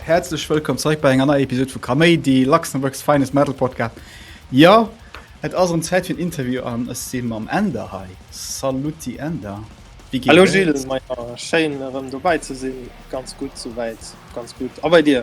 Häerzlech wëllkomm zeréck bei enger neier Episod vu Kaméidi, Luxembourg's Finest Metal Podcast. Jo, et ass erëm Zäit fir en Interview an ech si mam Änder hei. Saluti Änder. Wéi geet Hallo et? Gilles, ma ja, schéin erëm dobäi ze sinn. Ganz gutt souwäit, ganz gutt. A bei dir?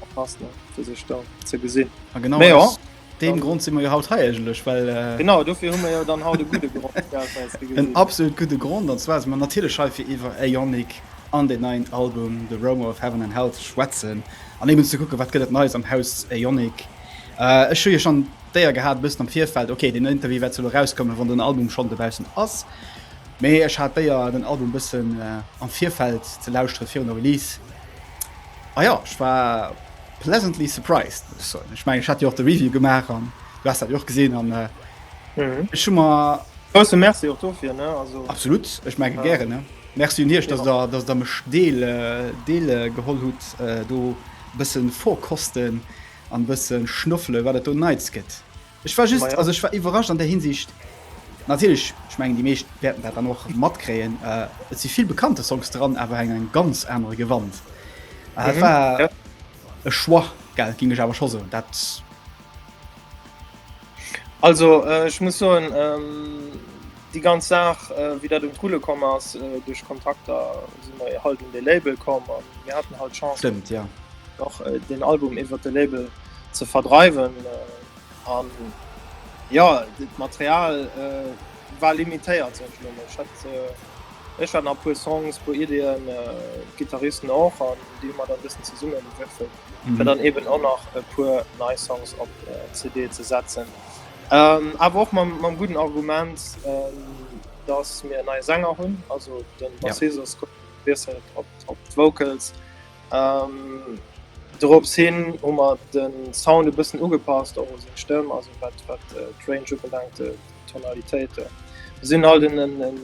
Verpasst net fir sech da ze gesinn. A genau Mä ja, aus deem dann- Grond si mer jo haut hei eigentlech, well äh, Genau, dofir hu mir jo dann haut e gudde Grond fir eis ze en gesinn. absolut gudde Grond, an zwar si mer natierlech hei fir iwwer Aeonic an den neien Album The Roamer of Heaven and Hell ze schwätzen an eben ze kucke wat gëtt et Neies am Haus Aeonic. Äh, ech hu jo schonn d'Éier gehat e bëssen am Virfeld, okay deen Interview wäert zwar elo erauskommen, wann den Album schonn dobaussen ass, mee ech hat d'Éier den Album e bëssen äh, am Virfeld ze lauschtere virun der Release. Ah ja, ech war pleasantly surprised muss so ich mein, ich hat auch de Review gemacht an du hast dat och gesinn an äh, mhm. ich schon mal Merci dafür, ne? Also, absolut ich mein, ja. gerne ne? Merci dir dass ja. da dass da mech deel äh, deel äh, geholl hut äh, do bëssen vorkosten an bëssen schnuffle wat dat do neits gëtt. Ech war just, also ech war iwwerrascht an der Hinsicht, natierlech, ech mengen, déi meescht wäerten dat dann och matkréien, äh, et si vill bekannte Songs dran, awer eng eng ganz anere Gewand. Äh, mhm. war ja. e Choix, gell, ging ech awer scho soen, dat... Also, äh, ich muss soen, ähm, die ganz Saach äh, wie dat dem coole kom ass äh, duch Kontakter si halt um de Label kom an mir hatten halt Chance. Stimmt, ja. Doch äh, den Album iwwer de Label ze verdreiwen an ja dit Material äh, war limitéiert sech hat Ech hat nach puer Songs puer Ideenn äh, Gitarristen och an déi mat an bisssen ze summen wëffel mm -hmm. dann eben an nach e puer nei Songs op äh, CD ze setzen. Ähm, awer och mam, mam guten Argument ähm, dats mir nei Sänger hunn, also den Bassist ja. op Vocals. Dorops hin hu mer de Sound e bëssen ugepasst, och u seng Stëmm, also wat d'Range ubelaangt, d'Tonalitéit. Mir sinn halt en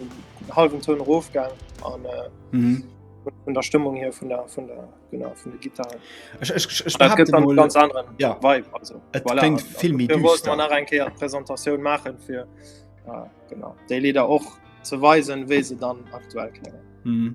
hallwen Toun erofgaang an vun der Stëmmung hier, vun der vun der genau vun de Gittaren. Ech behaapte mol, dat gëtt e ganz anere Vibe, also et kléngt vill méi düster. Dofir wollten mer nach eng Kéier d'Presentatioun maachen, fir genau déi Lidder och ze weisen, wéi se dann aktuell kléngen.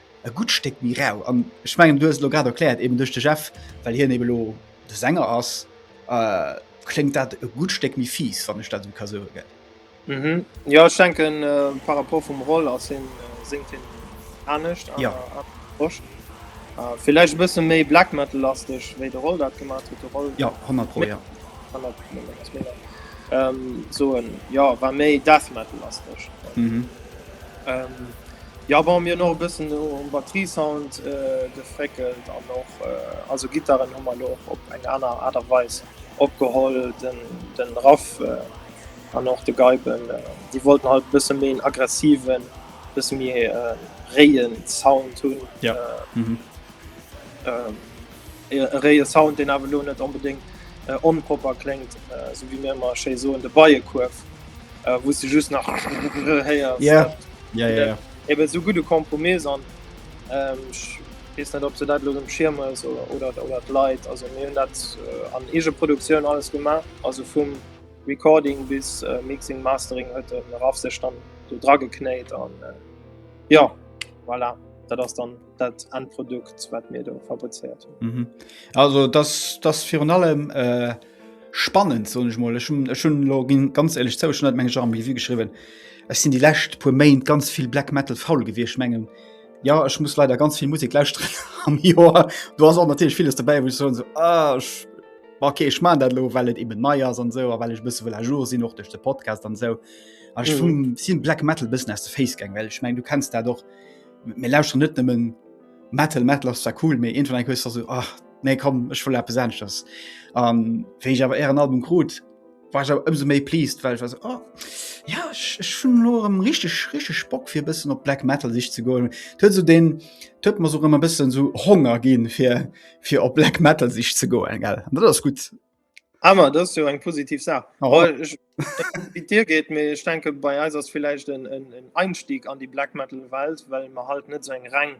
e gutt Stéck méi rau an ech mengen du lo grad erkläert eben duch de Jeff well hien ebe lo de Sänger ass äh, kléngt dat e gutt Stéck méi fies wann ech dat esou ka soe gell? Mhm. Ja ech denken äh, par rapport vum Roll ass hien äh, séngt hien anescht an ja. der Posch. Äh, Villäicht bësse méi Black Metal lasteg wéi de Roll dat gemat huet de Roll. Ja 100 pro ja. Ähm, soen ja war méi Death Metal lasteg. Mhm. Ähm, ja bon, mir no bëssen um Batteriesound äh, gefréckelt an och äh, also Gittaren hu man och op eng aner Art a Weis opgeholl den, den Raff äh, an och de Geiben äh, déi wollten halt bësse méi en aggressiven, bësse méi äh, réien Sound hunn. Ja. Äh, mhm. äh, e réie Sound, deen awer elo net onbedéngt onpropper kléngt, esou wéi mir ëmmer schéi soen, de Beiekuerf, wou s de just nach héiers. Ja, ja, ja. Eben esou gudde Kompromiss an ech weess net, ob se dat elo erëm schiermen oder et leit. Also mir hunn dat an Eegeproduktioun alles gemaach, also vum Recording bis Mixing, Mastering huet de Raph sech dann do drageknéit an jo, voilà, dat ass dann. dat an Produkt wat mir do fabrizeiert hun. Mhm. Also das, das virun allem äh, spannend so ich mal schon login ganz ehrlich zou schon meng Jean wie geschrieben. Es sind die lächt pu Main ganz viel Black Metal faul gewircht mengen. Ja ich muss leider ganz viel Musik laus am Joer. Du hast auch natürlich vieles dabei wo ich so, so ah, ich, okay ich man dat lo wellt eben neier so, well ich bis a jour sinn noch durch de Podcast an so. Mhm. vum sinn Black Metal bis as de Facegang well ich meng du kennst da doch. Mir lauschteren net nëmmen Metal, Metal ass zwar cool, mee iergendwann eng hues du esou, ah, nee komm, ech wëll eppes aneschters. An wéi ech awer ären Album krut, war ech awer ëmsou méi pleased, well ech war esou, oh ja, ech hunn elo erëm richteg, richteg Bock fir e bëssen op Black Metal sich ze goen. Et huet esou deen, et huet mer esou erëm e bëssen esou Honger ginn, fir op Black Metal sich ze goen, gell. An dat ass gutt. Ammer ah, dats jo eng positiv Saach. Oh. Wie Dir geet mé ech denke bei eis ass vielleicht en, en, en Einstieg an die Black Metal Welt, well man halt net so eng reng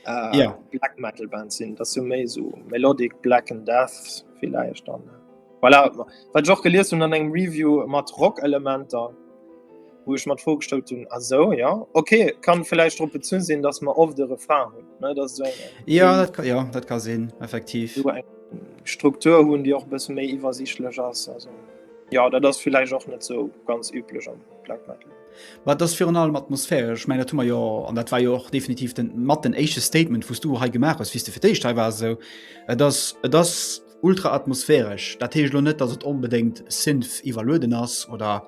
äh, ja. Black Metal Band sinn. Dat jo méi so Melodic Black and Death vielleicht dann. Äh, voilà, wat Joch geliers hun an engem Review mat Rock-Elementer. wou ech mat vorgestallt hun as so ja okay kann vielleicht op zu sinn dass man of de Refahren hun dat so ja dat kann ja dat kann sinn effektiv so Struktur hunn die auch bis méi iwwersichtlech ass also ja dat das vielleicht auch net so ganz üblech am Black metal war das fir an allem atmosphäre ich meine tummer jo an dat war jo och definitiv den mat den echte Statement wos du hei gemacht hast wis du fir déi Stei war so das das ultra atmosphäresch dat heescht lo net dass et onbedéngt sinf iwwerlueden ass oder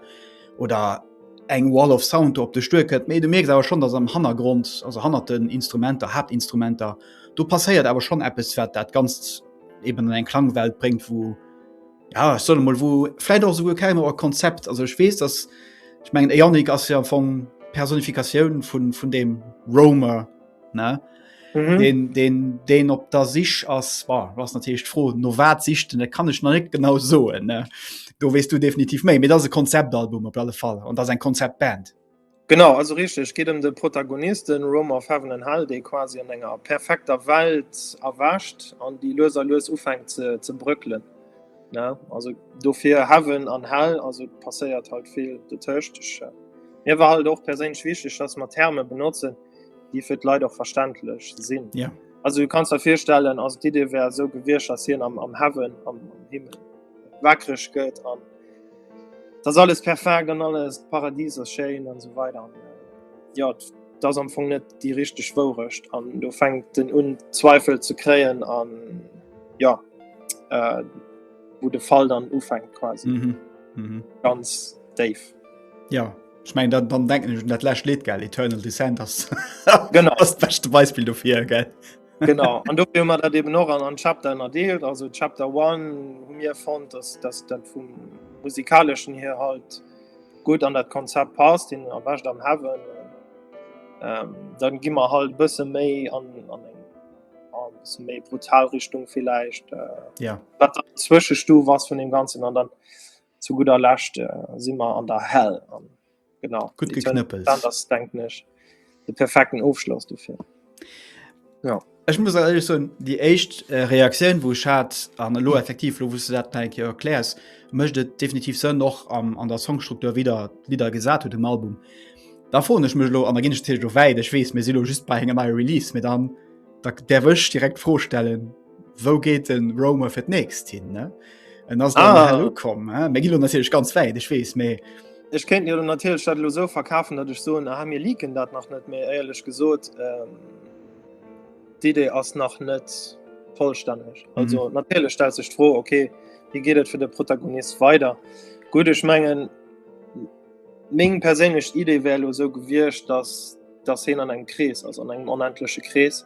oder eng Wall of Sound op de Stuer kënnt. Mee du merks awer schon, dass am Hannergrond, also hannert den Instrumenter, Hauptinstrumenter, do passéiert awer schon eppes, wat dat Ganzt eben an eng Klangwelt bréngt, wou, ja, ech soll emol, wou vläit och souguer keng Auer Konzept, also ech weess, dass, ech mengen, de Yannick ass jo am Fong d'Personifikatioun vun deem Roamer, ne mhm. den den den op der sich ass war was natürlich froh no wat sichten da kann ich noch nicht genau so ne du west du definitiv méi mit das Konzeptalbum op alle Fall und das ein Konzept Band genau also richtig geht um den Protagonisten Rom of heaven and hell de quasi an enger perfekter Welt erwascht an die löser lös ufängt ze ze brückeln ne also dofir heaven an hell also passeiert halt viel de töcht mir war halt auch per se wichtig dass man Therme benutzen die die fir Leiit och verständlech sinn. Ja. Yeah. Also du kannst der firstellen ass Di Dir wär so gewircht ass hien am, am Heaven am, am Himmel wackreg gëtt an dats alles perfekt an alles Paradies ass Schein an so weiter. Und, äh, ja dats am Fong net déi richteg Wourecht an du fängt den un Zweifel ze kreien an ja äh, wo de Fall dann ufängt quasi mm -hmm. Mm -hmm. ganz déif. Ja ich mein, dann, dann denken ich, dat lächt leet gell Eternal Descent ass genau das beste Beispiel dofir gell. genau an do man dat eben noch an an Chapter erdeelt also Chapter 1 hu mir fand dass das dat vum musikalischen hier halt gut an dat Konzept passt den erwächt am Heaven ähm, dann gi man halt bësse méi an, an méi brutal Richtung vielleicht äh, ja. Zwischenstu was von dem ganzen an dann zu guder Lächt äh, si mer an der Hell an genau gut geknëppelt das denkt nech de perfekten Ofschloss du fir ja Ech muss ehrlich so die echt äh, Reaktioun wo hat an lo effektiv lo wusste dat erklärs mcht et definitiv se noch am, an der Songstruktur wieder wieder gesat hue dem Album da fro ich mech lo an der gin ich weit ich wees mir silo just bei engem Release mir dann da, der wëch direkt vorstellen Wou geet den Romer fir d'nächst hin ne? En ass ah. kom mé gi natierlech ganz wäit, ech wees méi. Ech kéint jo natierlech dat lo so verkafen, datt ech soen ha mir liken dat nach net méi éierlech gesot. Ähm, D'Idee ass nach net vollstänneg. Mhm. Also mhm. natierlech stel sech tro, okay, wie geet et fir de Protagonist weider? Gut ech mengen Ming perélech Idee wär lo so gewircht, datt datt hin an eng Krees ass an engem onendlesche Krees.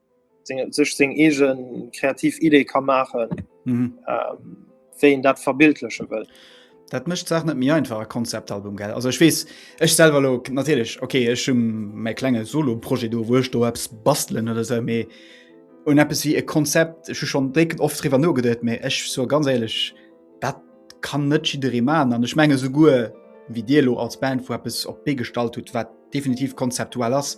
sech seng eege kreativ Idee ka maachen, mhm. ähm, wéi en dat verbildleche wëll. Dat mëcht Saach net méi einfach Konzeptalbum gell. Also ech wees ech selwer lo natierlech okay, ech hun méi klenge Soloproje do wuech do apps bastelen oder se méi un Apps wie e Konzept ech schon drécken oft riwer no gedet méi ech so ganz ehrlich dat kann net jiddere ma an ech menge souguer wie Dir lo als Band vu Apps op Bee gestalt huet, wat definitiv konzeptuell ass.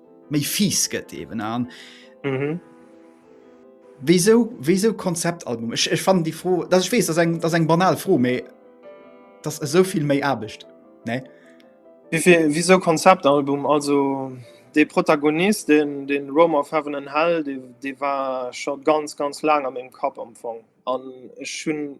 méi fies gëtt eben an mhm. wieso wieso Konzeptalbum ich, ich fand die froh dass ich wees das eng das eng banal froh me das es so viel méi erbecht ne wieviel wieso Konzeptalbum also de Protagonist den den Rome of heaven and hell die, die war schon ganz ganz lang an dem Kap amfang an schon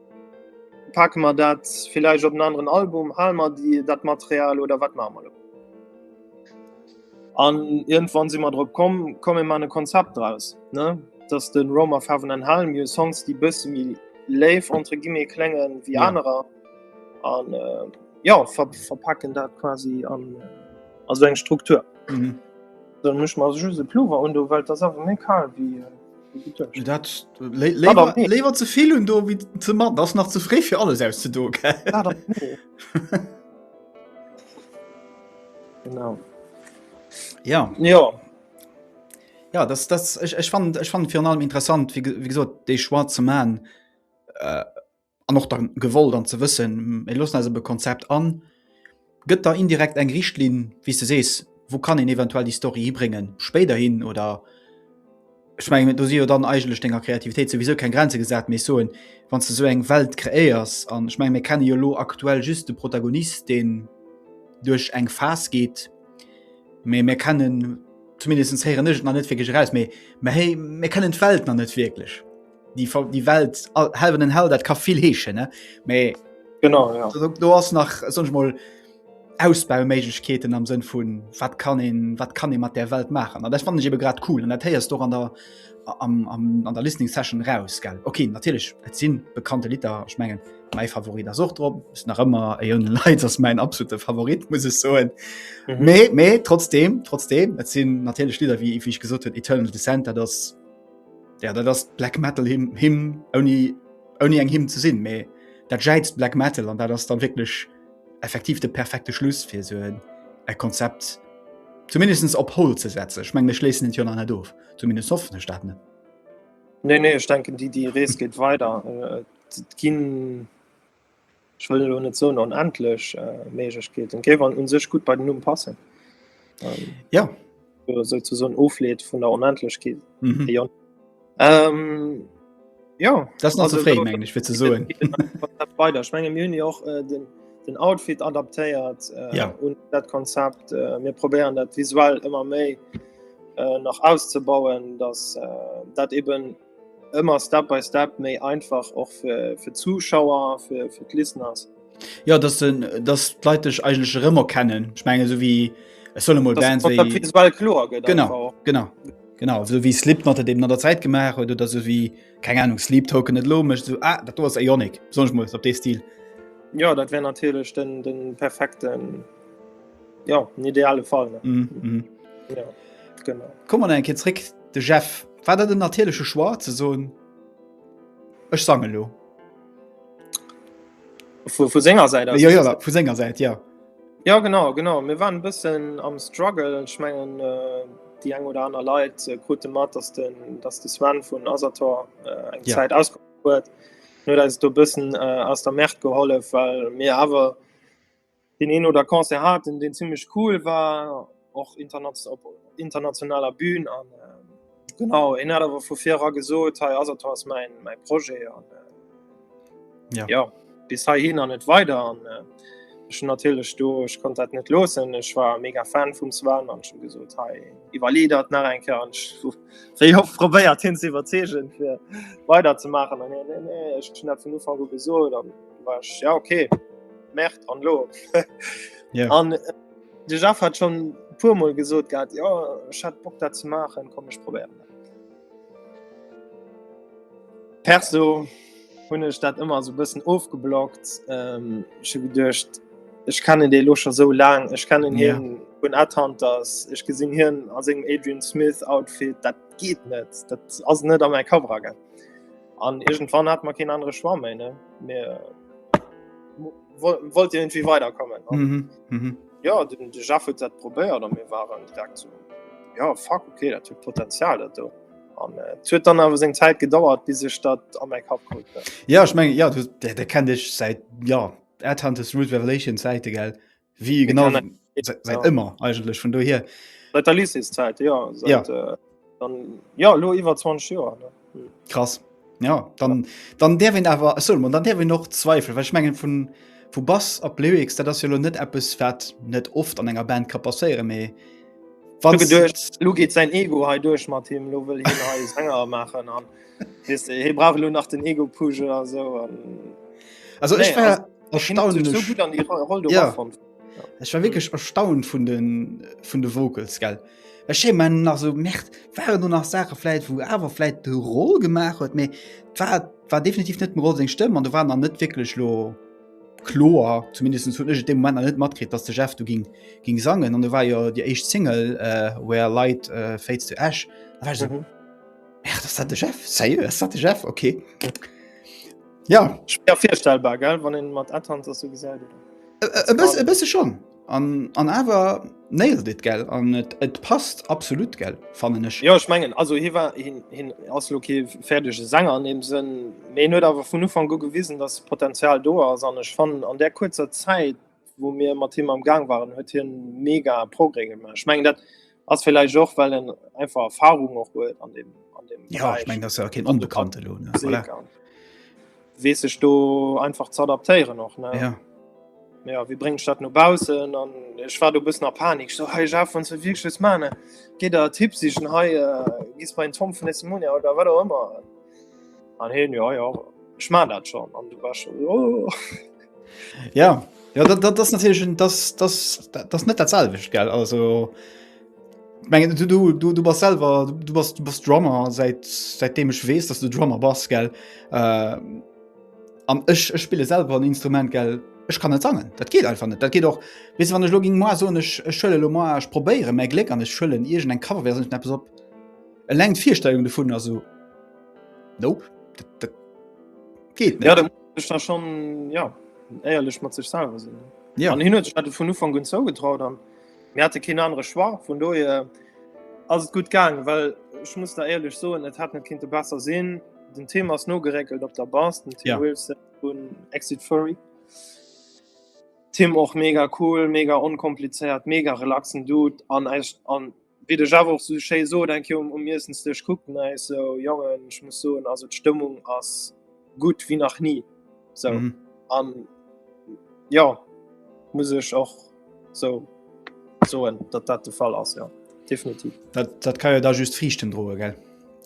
Pake mer dat villäicht op en aneren Album? Hale mer déi dat Material oder wat maache mer elo? An iergendwann si mer drop komm, komm mir maachen e Konzept draus, ne? Datt de Roam of Heaven and Hell, mir hu Songs, déi e bësse méi léif entre guillemets klénge wéi anerer an jo, ver verpaken dat quasi an a sou eng Struktur. Dann mech mer just e Pullover un do, well et ass awer méi kal wéi. Dat lewer ze vill hun do wie ze mat ass nach ze fré fir alles aus ze do Ja Ja Ja das, das, ich, ich fand ich fand final interessant wie, wie gesot déi schwarze man äh, an och dann gewollt an ze wëssen e lossen eis op e Konzept an, gëtt da indirekt eng Richtlinn wéi du sees, wou kann een eventuell déi Story hibréngen spéider hin oder ech meng do si jo dann eigenlech denger Kreativitéit souwisou keng Grenze gesat, mee ech soen wann du sou eng Welt kreéiers an ech meng mir kenne jo elo aktuell just de Protagonist deen duerch eng Phas geet, mee mir kennen zumindest héieren ech et nach net wierklech eraus, mee mer héi mir kennen d'Welt nach net wierklech. die, die Welt helwen den Hell dat ka vill heeschen ne méi genau ja. du hast nach sonch mal Ausbauméiglechkeeten am Sënn vun wat kann een, wat kann e mat der Welt machen. An dat fand ich ebe grad cool an dat héiers doch an der am, am, an der Listening Session raus gell. Okay natürlich et sinn bekannte Litter schmengen mei Favorit as och drop ist nach ëmmer e hun Leiits ass mein absolute Favorit muss es soen. Mhm. Mee, mee trotzdem trotzdem et sinn natürlich Lider wie wie ich gesot huet Eternal Descent dat ass Ja, dat ass Black Metal Hymn, Hymn ouni, ouni eng Hymn ze sinn, mee dat jäizt Black Metal an dat ass dann wécklech effektiv de perfekte Schluss fir so en e Konzept zumindest op Hol ze setzen. Ech meng, mir schléissen et jo nach net of, zumindest hoffen ech dat net. Nee, nee, ech denken, déi, déi Rees geet weider. Et ginn ech wëll elo net soen onendlech äh, Méiglechkeeten. Géif an un sech gut bei den Numm passen. Ähm, Ja, oder sou zu so'n Ofleet vun der Onendlechkeet. mhm. Ja. Ähm, ja. das ist noch Also, zu frei, da- meng ich, fir ze soen. Konzept weiter. Ich meine, wir haben ja auch äh, den, den Outfit adaptiert äh, Ja. und das Konzept. Äh, wir probieren das visuell immer mehr äh, noch auszubauen, dass äh, das eben Ëmmer Step by Step méi einfach och fir, fir Zuschauer, fir, fir Listeners. Ja dass d'Leit dech eigenlech rëmmer kennen. Ich menge so wie es solle mod Band klo Genau genau. Genau so wie Slip mat dem an der Zäit gemaach huet oder so wie keng Ahnung Sleep token net lo mecht so ah, dat do ass Ionik sonch muss op dee Stil. Ja dat wär natierlech den den perfekten Ja en ideale Fall. Mm -hmm. ja, genau. Komm an enke zréck de Jeff. War dat den natierleche Schwar ze soen Ech sange lo. Vu, vu Sänger seit ja, ja, vu Sänger seit ja. Ja genau genau mir waren bëssen am Struggle schmengen äh, die eng oder aner Leiit äh, krute mat, dass den, dass de Swan vun Asator äh, eng ja. Zäit auskom huet. No dat du bëssen äh, aus der Mäert gehollef, well mir awer Deen een oder Concert haten, deen zimlech cool war, och op internationaler Bün. An genau, en hat awer vu vir era gesot, hei ass et, do ass mäin Projet. An jo, bis heihin an net weider. An ech hunn natierlech do, ech konnt dat net loossen, ech war mega Fan vum Sven an ech hunn gesot, hei, iwwerlee der et nach eng Kéier. An ech hu wéi oft probéiert, hien ze iwwerzeegen, fir weiderzemaachen. An hien, Nee, nee, ech hunn dat vun Ufank u gesot. Ja okay Märert an lo An de Jaff hat schon puermoll gesot gehabt Jo hat Bock dat ze maachen kom ech probéieren. Perso hunn ech dat ëmmer sou bëssen ofgeblockt ähm, ech hu geduecht ech kennen dee lo scho sou laang ech kennen Ja. hien vun Adhunters ech gesinn hien a sengem Adrian Smith Outfit dat geet net dat ass net a mäi Kapp eragang. An irgendwann hat man kein andere Schwamm mehr, ne? Mir wollt irgendwie weiterkommen. Mhm, mhm. Ja, den Jeff hat das probiert und wir waren direkt so, ja, fuck, okay, das hat Potenzial, das da. An äh, et huet dann awer seng Zäit gedauert, bis ech dat an meng Kap krut. Ja ech meng ja, der, der kennt ech seit ja Adhunters Root Revelation Zäite gell. Wie genau seit immer eigentlech vun do hier der Lycészeit ja, seit, ja. Äh, dann, ja lo iwwer 20 Joer hm. krass ja dann ja. dann der wenn awer so man dann der wenn noch zweifel wech menggen vun vu Bass op Lyrics dat ass jo lo net Apps wat net oft an enger Band ka passéiere méi Lu geet sein Ego hei duerch mat him lo will Sänger machen an. he bra lo nach den Ego Puge oder so an also nee, ich war erstaunlich so gut an die Rolle ja. Davon. Ich war wirklich erstaunt von den von de Vocals gell man nach so merkt waren du nach Sache vielleicht wo aber vielleicht de roll gemacht hat mir war, war definitiv net roll seg stimmen an du waren dann net wirklich lo chlor zumindest zu dem Moment net matkrit dass der Chef du ging ging sangen und du war ja die echt Single uh, where light uh, fades to Ash mhm. Ach, das hat de Chef Sérieux, das hat de Chef okay. Ja ja firstellbar gell wann en mat Adhand ass so gesäit. E bësse bësse schon an, an awer neil dit gell an et et passt absolut gell fannen ech Jo ech mengen also hi war hin hin ass lo kee fäerdege Sänger an deem Sënn méi net awer vun Ufang u gewisen datt Potenzial do ass an ech fannen an där kuerzer Zäit wou mir mat him am Gang waren, huet hien mega Progrès gemaach. Ich mein, dat ass vielleicht och well en einfach Erfahrung och huet an dem, an dem ja, ich mein, das ja kein onbekannte Lohn ne? voilà. wees sech do einfach ze adaptéieren och ne ja. Ja, wie bringt statt no Bausen an ech war du bist nach Panik so hey, ja, von wirklich man geht der Tipp sich he äh, gis bei Tom von Mon oder war immer an hin ja, ja ich mein dat schon an du war schon oh. Ja, ja dat, dat, das natürlich ein, das, das, das net dat selwecht gell also mengen du du du du bas selber du bas du bas Drummer seit seitdem ech wees dass du Drummer bas gell äh, an ech ech spiele selber ein Instrument gell ech kann net sangen dat geht einfach net dat geht och wis wann ech lo ging moi so ech schëlle lo moi ech probéiere mei Gléck an ech schëllen irgend eng Cover wer net op eleng d'Virstellung de vun also nope dat, dat geht net. Ja, Ech war schon ja éierlech mat sech selwer sinn. Ja. An hin huet hat vun Ufang gun zou getraut an mir hatte keen anere Schwar vun doe äh, ass gut gang, well ech muss da éierlech soen, et hat net kind de besser sinn. Den Thema ass no geréckelt op der Bas den Tim ja. Wilson vun Exit Furry. Tim och mega cool, mega onkomplizéiert, mega relaxen Dude an eist an wéi de Javo och sou schéi sot, eng Kéier um Iessensdësch kuckt nei sou, Jongen, ech muss soen, also d'Stëmmung ass gutt wéi nach ni. Sou mhm. an ja muss ech och sou soen, datt dat de Fall ass ja definitiv. Dat, dat kann jo da just Friichten droe gell.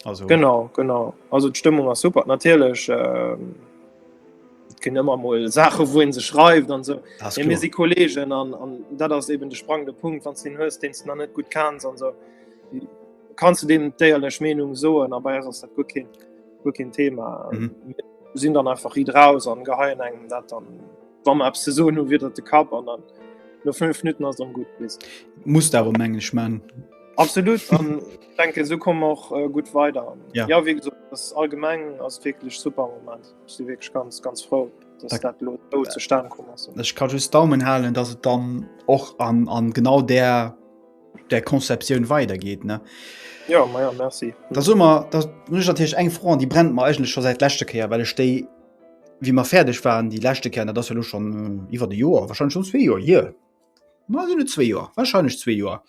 Also. Genau genau also d'Stëmmung ass super natierlech. Äh, gin ëmmer mol Sache wou en se schreift an so e mir si Kolgen an an dat ass eben de sprang de Punkt wann sinn hues deen na net gut kanns an so kannst du dem déierlech Menung soen an bei ass dat gut kind gut kind Thema mhm. sinn dann einfach ri drauss an geheien engem dat dann wann man ab se so nu wieder de Kap an dann no 5 Minuten ass dann gut bis muss darum englisch man absolut an denke so kom och äh, gut weiter ja. ja wie gesagt, das allgemeng ass wirklich super moment Ech si wierklech ganz ganz frou, dass dat elo do zustane komm ass. Ech ka just Daumen halen, dass et dann och an, an genau der der Konzeptioun weidergeht ne. Ja, ma ja, merci. Da so mer dat hunn ech natierlech eng Fro an déi brennt mer eigentlech scho säit leschte Kéier, well ech déi wéi mer fäerdeg waren déi leschte Kéier, dat ass jo elo schon äh, iwwer de Joer wahrscheinlich schon zwee Joer hier. Ma sinn et zwee Joer, wahrscheinlich zwee Joer.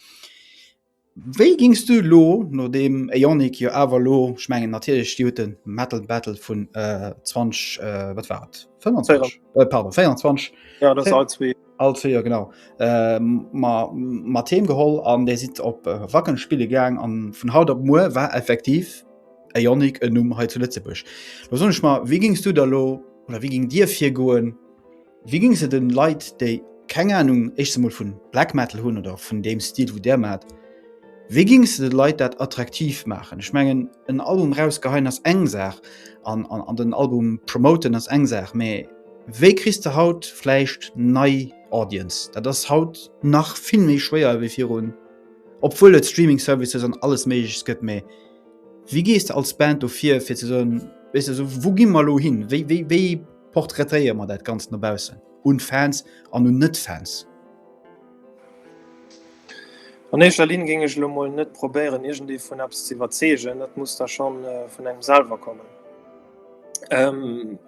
Wéi gings du lo no deem Aeonic jo awer lo, ech mengen natierlech déi huet den Metal Battle vun 20 wat war et 25 pardon 24 ja dat all zwee all zwee Joer genau ma mat heem geholl an där sidd op Wacken spille gaang an vun haut op muer war effektiv Aeonic en Numm hei zu Lëtzebuerg. Lo soen ech mer wéi gings du da lo oder wéi ging dir virgoen, Wéi géing se den Leit déi keng Ahnung éischtens emol vun Black Metal hunn oder vun deem Stil wou där mat, wéi géing se den Leit dat attraktiv maachen? Ech mengen en Album raus geheien ass eng Saach an an den Album promoten ass eng Saach, mä wéi kriss de haut vläicht nei Audience? Dat ass haut nach vill méi schwéier wéi virun, obwuel et Streaming Services an alles méigleches gëtt, mä wéi gees de als Band do vir fir ze soen, weess de, esou wou gi mer elo hin? Wéi wéi wéi. Portraitéiere mer dat Ganzt no baussen, un Fans an un Net-Fans. An éischter Linn géing ech elo mol net probéieren, iergendee vun eppes ze iwwerzeegen, dat muss da scho vun engem selwer kommen. Et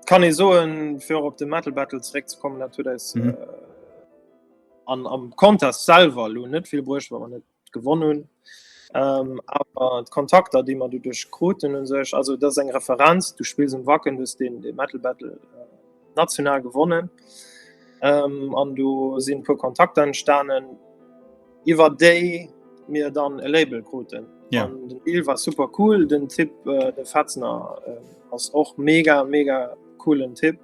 kann ee soen, fir och op de Metal Battle zeréckzekommen, dat huet eis am Contest selwer elo net vill bruecht, well mer net gewonn hunn. Awer d'Kontakter, déi mer doduerch kruten u sech, also dat ass eng Referenz, du spills um Wacken, du hues dee Metal Battle national gewonnen an do sinn e puer Kontakter entstanen, iwwer déi mir dann e Label kruten. Den Deal war super cool, den Typ de Fetzner ass och mega mega coolen Typ,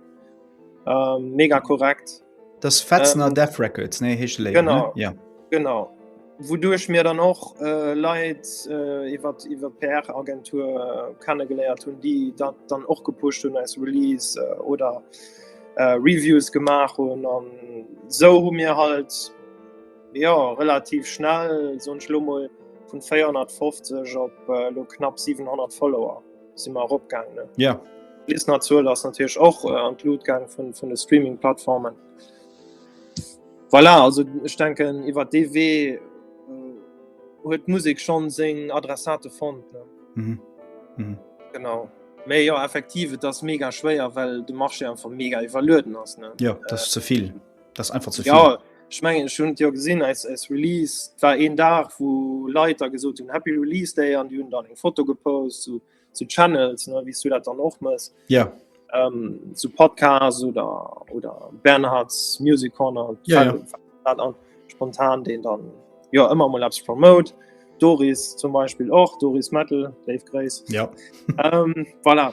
mega korrekt. Das Fetzner ähm, Death Records, nee, hecht Label, genau, ne? Ja. Genau. Wodurch mir dann och äh, Leiit äh, iwwer iwwer PR-Agentur äh, kennengeléiert hunn, déi dat dann och gepuscht hunn als Release äh, oder äh, Reviews gemaach hunn an sou hu mir halt ja relativ schnell sonch Lummel vun 450 op äh, lo knapp 700 Follower. si mar opgang ne ja bis na zu lass natürlich och äh, an blutgang vun vun de streaming plattformen voilà also ich denken iwwer dw äh, huet äh, musik schon seg adressate fond ne mhm. Mhm. genau méi ja effektiv das mega schwéier well du mach einfach mega iwwerlöden ass ne ja das äh, zu viel das einfach zu viel. Ja, ich meine ich hun ja gesinn als, als Release war een Dach wo Leiter gesot hun Happy Release Day an die hun dann eng Foto gepost zu, zu Channels ne, wie du dat dann och muss. Ja. Ähm, zu Podcast oder oder Bernhards Music Corner ja, ja. Dann, spontan den dann ja immer mal abs promote. Doris zum Beispiel och Doris Metal, Dave Grace. Ja. ähm, voilà.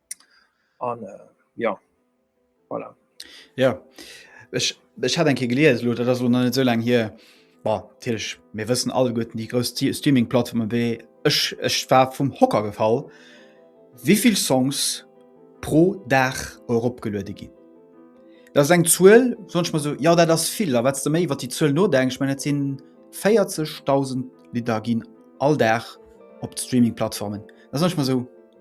an äh, ja voilà. ja ech ech hat enke geliers lo dat ass lo net esou laang hier Tech mir wëssen alle goten déi grous Streaming-Plattformen wéi ech ech war vum Hocker gefall. Wéivill Songs pro Dag eropgeluerde ginn? Dat ass eng Zuel sonch mat sou ja dat ass vill a wat de méi wat déi Zuel nodenk ech net sinn 40.000 Lidder ginn all Dag op d'Streaming-Plattformen. Dat ass sonch mat sou.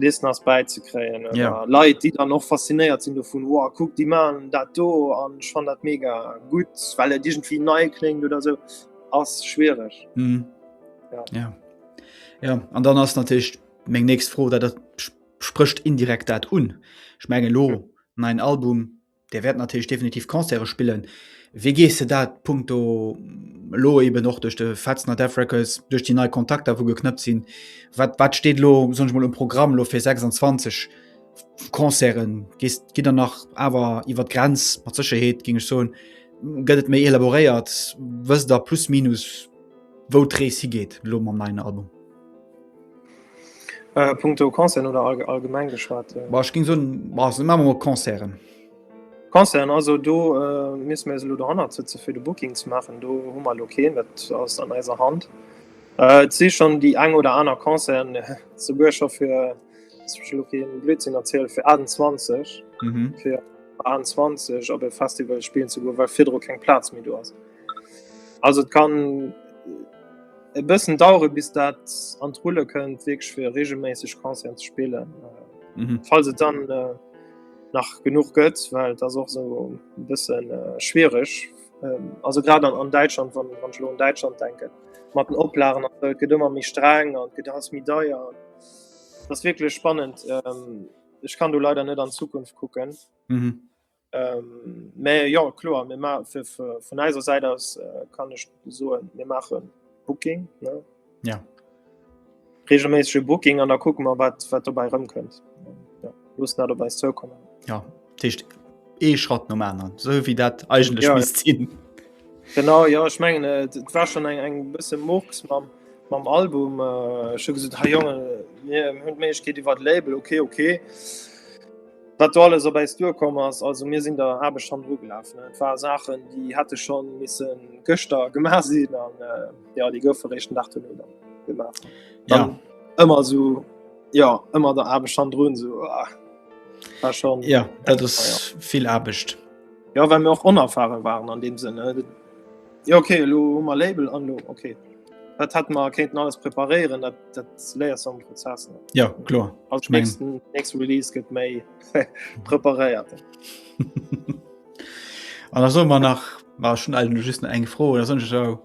Listen ass bäizekréien oder Ja. Leit, déi dann och faszinéiert sinn dovun, wow, kuck, déi man dat do an ech fan dat mega gut, well et irgendwie nei kléngt oder so, ass schwiereg. Mhm. Ja. Ja. Ja, an dann ass natürlich meng nächst Fro, dat dat sp- sprécht indirekt dat un. Ech menge lo, neien Album, Dir wäert natierlech definitiv Concerte spillen. Wéi gees de dat punkto lo eben och duerch de Fetzner Death Records, duerch déi nei Kontakter wou geknëppt sinn? Wat, wat steet lo sonch mol um Programm lo fir 26 Concerten? Gees, gitt der nach awer iwwer d'Grenz? Mat Sécherheet géing ech soen. Gëtt et méi elaboréiert? Wësst der plus minus wou d'Rees higeet lo mam neien Album? Äh, punkto Konzern oder all, allgemeng geschwat? Äh. Ech ging so mat Konzern. Konzern also do äh, miss mir lo hanner ze fir de Booking ze machen. Do hu mal okay, dat ass an eiser Hand. Äh, si schon déi eng oder aner Konzern ze Buercher fir Blödsinn erzielt fir 28 mhm. fir 20 op e Festival spielen ze go, well firdro keng Platz méi do ass. Also et kann e bëssen dauere bis dat an d'Rulle kënnt wéineg fir reegelméisseg Concerten ze spillen. Mhm. Falls et dann äh, nach genug gëtt, well dat och so e bëssen äh, schwiereg. Ähm, also grad an, an Däitschland wann wann lo an Däitschland denken, mat den Oplagen äh, gëtt ëmmer méi streng an gëtt ass mi deier. Das wirklich spannend. Ähm, ich kann du leider net an Zukunft kucken. Mhm. Mä jo kloer, mir ma fir vun eiser Säit aus kann ech soen, mir maache Booking reegelméissege Booking an da kucke mer, wat wat dobäi erëmkënnt. Loosse dat op eis zoukommen. Ja, dat heescht ee Schratt nom aneren, esou wéi dat eigentlech misst sinn. Genau, jo, ech mengen et war schonn eng eng bësse Murks mam mam Album. Ech hu gesot, hei Jongen, mir hunn d'Méiglechkeet iwwer d'Label, okay, okay. Wat do alles op äis duerkomm ass, also mir sinn der Aarbecht schonn nogelaf. Et ware Saachen, déi hätte schonn missen gëschter gemaach sinn an jo, déi goufe réischt den Dag duerno dann gemaach. Dann Ja. ëmmer so ja ëmmer der Aarbecht han drun so ah, war schon Ja, dat ass vill Aarbecht. ja well mir och onerfare waren an dem Sënn ne? Jo okay elo hu mer Label an lo okay. Dat hat mer kéinten alles preparéieren, dat dat léiers du am Prozess. Ne? Ja kloer Als Ich mein- nächsten nächste Release gëtt méi preparéiert. An da soll man nach war schon all just nach eng Fro oder sonst so.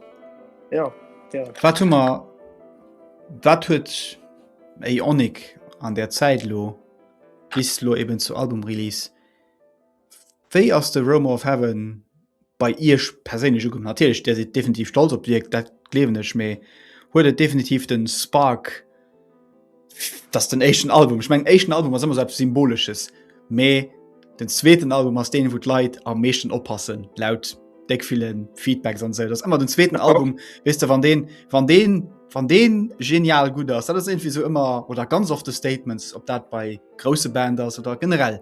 Ja gär. Wat hu mer wat huet Ionik an der Zäit lo bis lo eben zu Albumrelease Wéi ass de Romo of Heaven bei Iech perséinlech ukomm? Natierlech Dir sidd definitiv stolz op d'Wierk, dat gleewen ech, mee huet et definitiv den Spark dass den éischten Album, ech mengen éischten Album ass ëmmer sou eppes Symbolesches, mee den zweeten Album ass deen, wou d'Leit am meeschten oppassen, laut de ville Feedbacks an esou. Et ass ëmmer den zweeten Album, weess de, wann deen, wann deen, wann deen genial gutt ass. Dat ass iergendwéi sou ëmmer oder ganz oft de Statement, ob dat bei grousse Band ass oder generell.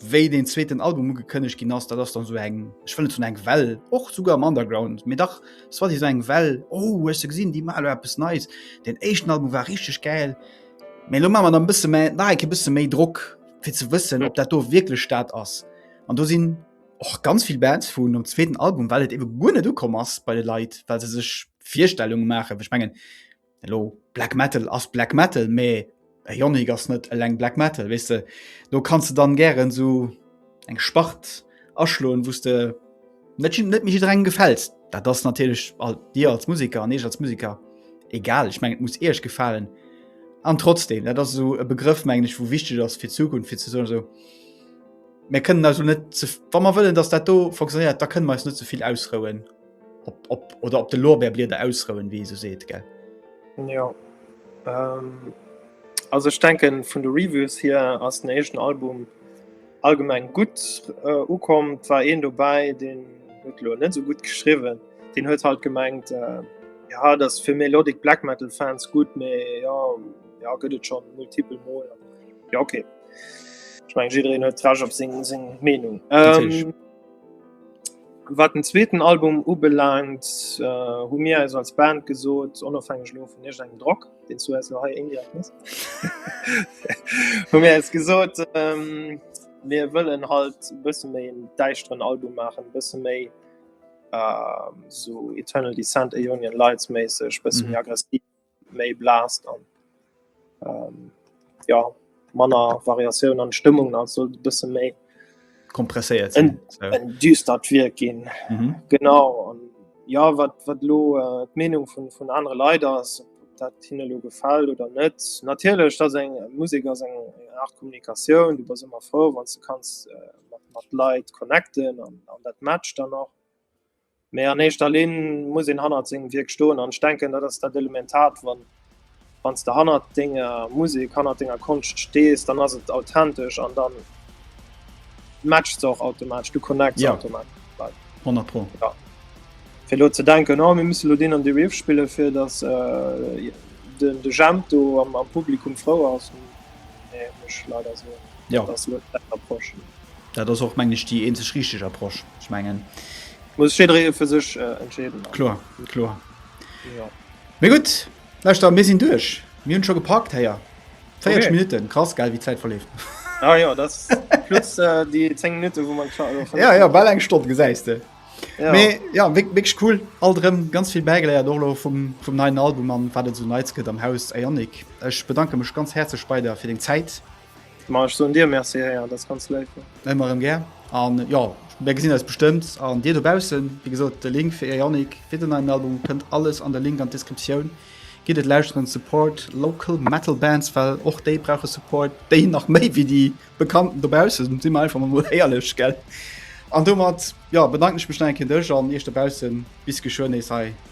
wéi den zweeten Album ugekënneg ginn ass, dat ass dann so eng ech wëllen zun eng Well och suuge am Underground, mir dach es war Dir so eng Well oh huech se gesinn, Dir maler eppes Neis. Den éischten Album war richteg gäil. Mee lo mamer der bësse méi nach enke bësse méi Drock fir ze wëssen, ob dat do wierklech dat ass. An do sinn och ganz vill Bands vun nom zweeten Album, well et ewe guer net ukomm ass bei de Leit, well se sech Virstellunge maachen. Ech mengen Elo Black Metal ass Black Metal, mee Ionic ass net eleng Black Metal wese. Lo kannst du dann gären so eng Spart aschloen, wos de net net mich dreng gefällst. Dat ass natierlech all dir als Musiker an eech als Musiker egal. Ech meng et muss Iech gefalen. An trotzdem dat ass eso e Begrëff meng ech, wou wichteg ass fir d'Zukunft fir ze soen eso, Mir kënnen also net ze wa mer wëllen, datt dat do fonctionéiert, da kënne mer eis net ze vill ausrouen. op, op, oder op de Lorbeerblieder ausrouen, wéi se seet gell. Ja. Ähm, also ich denken vun de Reviews hier ass den echten Album allgemeng gut äh, ukom, war een dobäi den huet lo net so gut geschriwen. Den huet halt gemengt äh, ja dat fir Melodik Black Metal Fans gut méi ja, ja gëtt et schon multiple Mol. Ja okay. Ich mein, jiddreen huet Trasch op seng seng Meinung. Ähm, Wat den zweeten Album ubelaangt, hu mir eis als Band gesot, onofhängeg elo vun iergendengem Drock, deen s du eis elo hei indirekt gëss, hu mir eis gesot, mir wëllen halt e bësse méi en däischteren Album maachen, e bësse méi esou Eternal Descent, Aeonian Lights-méisseg, e bësse méi aggressiv, méi blaas dann ähm, ja manner Variatioun an Stëmmung an soll bësse méi kompresséiert en, so. en düstert Wier ginn mhm. genau an ja wat wat lo äh, d'Menung vun vun anere Leider ass dat hinne lo gefall oder net natierlech dat eng Musik ass eng Art Kommunikatioun du bass ëmmer froh wann ze kanns äh, mat Leiit connecten an, an dat Match dann noch Mee an éischter Linn muss een hannert sengem Wierk stoen an ech denken, dat ass dat Elementart, wann s de hannert denger Musek, hannert denger Konscht stees, dann ass et authentesch an dann matcht se och automatesch, du connects se automatesch. Ja, 100 pro. Ja. Fir elo ze denken, oh mir musse elo deen an dee Riff spillen, fir datt de Jemp do am Publikum frou ass, nee, muss ech leider soen, dat ass elo net d'Approche. Dat ass och meng ech déi eenzeg richteg Approche. Ech mengen muss jiddweree fir sech äh, entscheeden. Kloer, kloer. Ja. Mé gutt, Lauschter, mir sinn duerch. Mir hunn scho gepackt héier. 40 okay. Minuten krass geil wie Zeit verlebt ah, ja, das plus, äh, die 10 Minuten, wo man ja, ja, ball eng Stunde gesäiste ja. Mais, ja wirklich cool all drin ganz viel beigeleiert Dolo vom, vom neuen Album an war so nice am Haus Ionic ich bedanke mich ganz herzlich bei der für den Zeit Ma ech soen dir Merci Réa, dat ass ganz léif vun. Ëmmer erëm gär an jo, mir gesinn eis bestëmmt an dir dobaussen. Wéi gesot, de Link fir Ionic, fir den neien Album kënnt alles an de Link an d'Descriptioun. Gitt et lauschteren, support local metal bands, well och déi brauche Support, déi nach méi wéi déi Bekannten dobaussen, si mer einfach emol éierlech, gell? An domat, jo, bedanken ech mech nach eng Kéier dech an iech dobaussen. Bis geschwë nees hei.